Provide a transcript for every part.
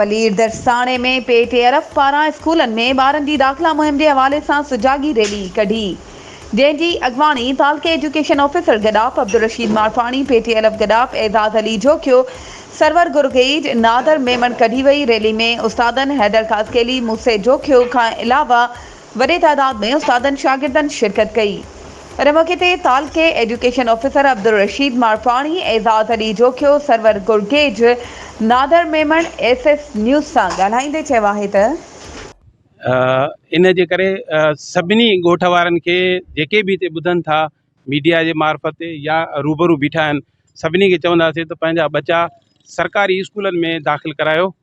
ملير درساڻي ۾ P T عرف پاران اسڪولن ۾ ٻارن جي داخلا مهم جي حوالي سان سجاڳي ريلي ڪڍي جنهن جي اڳواڻي تعلقي education officer Gadap Abdulrasheed Marfani P T عرف گڏاپ اعزاز علي جوکيو سرور گرگيڊ نادر ميمڻ ڪڍي وئي ريلي ۾ استادن حيدر خاصخيلي موسي جوکيو کان علاوه وڏي تعداد ۾ استادن شاگردن شرڪت ڪئي. ان موقعي تي تعلقي education officer Abdul Rasheed مارپاڻي، Aizaz Ali Jokhio, Sarwar Gurgej, Nadir Memon S S news سان ڳالهائيندي چيو آهي ته. ان جي ڪري سڀني ڳوٺ وارن کي جيڪي به هتي ٻڌن ٿا ميڊيا جي معرفت يا روبرو بيٺا آهن سڀني کي چونداسين ته پنهنجا ٻچا سرڪاري اسڪولن ۾ داخل ڪرايو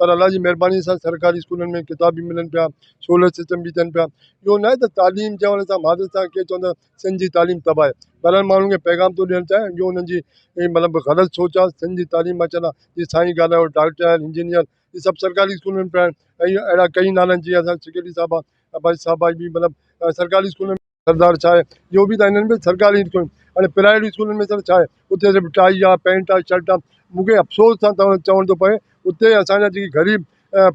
پر الله جي مھرباني سان سرڪاري اسڪولن ۾ ڪتاب به ملن پيا سولر سسٽم به ٿين پيا اهو ناهي ته تعليم چوڻ سان مھاجر صاحب ڪيئن چوندا آهن سنڌ جي تعليم تباھ آهي بھرحال ماڻھن کي پيغام ٿو ڏيڻ چاھيان جو انهن جي مطلب غلط سوچ آهي سنڌ جي تعليم مان چوندا جي سائين ڳالھايو ڊاڪٽر آهن انجنيئر اهي سڀ سرڪاري اسڪولن ۾ پيا آهن اهڙا ڪئي نالن جي اسان سيڪريٽري صاحب آهي عباسي صاحب آهي مطلب سرڪاري اسڪولن ۾ سردار ڇا آهي اهو به ته هنن به سرڪاري اسڪولن هاڻي پرائيويٽ اسڪولن ۾ ڇا آهي اتي صرف ٽائي آهي پينٽ آهي شرٽ آهي مونکي افسوس سان چوڻ ٿو پوي اتي اسان جا جيڪي غريب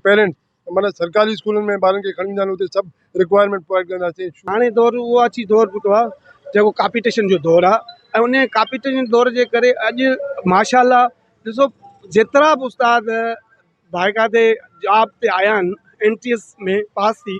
پيرنٽ معنيٰ سرڪاري اسڪولن ۾ ٻارن کي کڻي ويندا آهن اتي سڀ رڪوائرمينٽ پراوائيڊ ڪنداسين هاڻي دور اهو اچي دور پهتو آهي جيڪو ڪاپيٽيشن جو دور آهي ۽ ان ڪاپيٽيشن دور جي ڪري اڄ ماشاء الله ڏسو جيترا به استاد بائقاعدي جاب تي آيا آهن ايم ٽي ايس ۾ پاس ٿي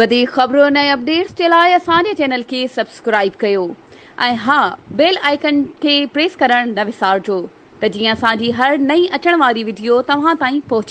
وڌيڪ خبرن ۽ اپڊيٽس جي لاء اسان جي چينل کي سبسڪرائيب ڪيو ۽ ها بيل آئيڪن کي پريس ڪرڻ نه وسارجو ته جيئن اسان جي هر نئين اچڻ واري وڊيو توهان تائين پهچي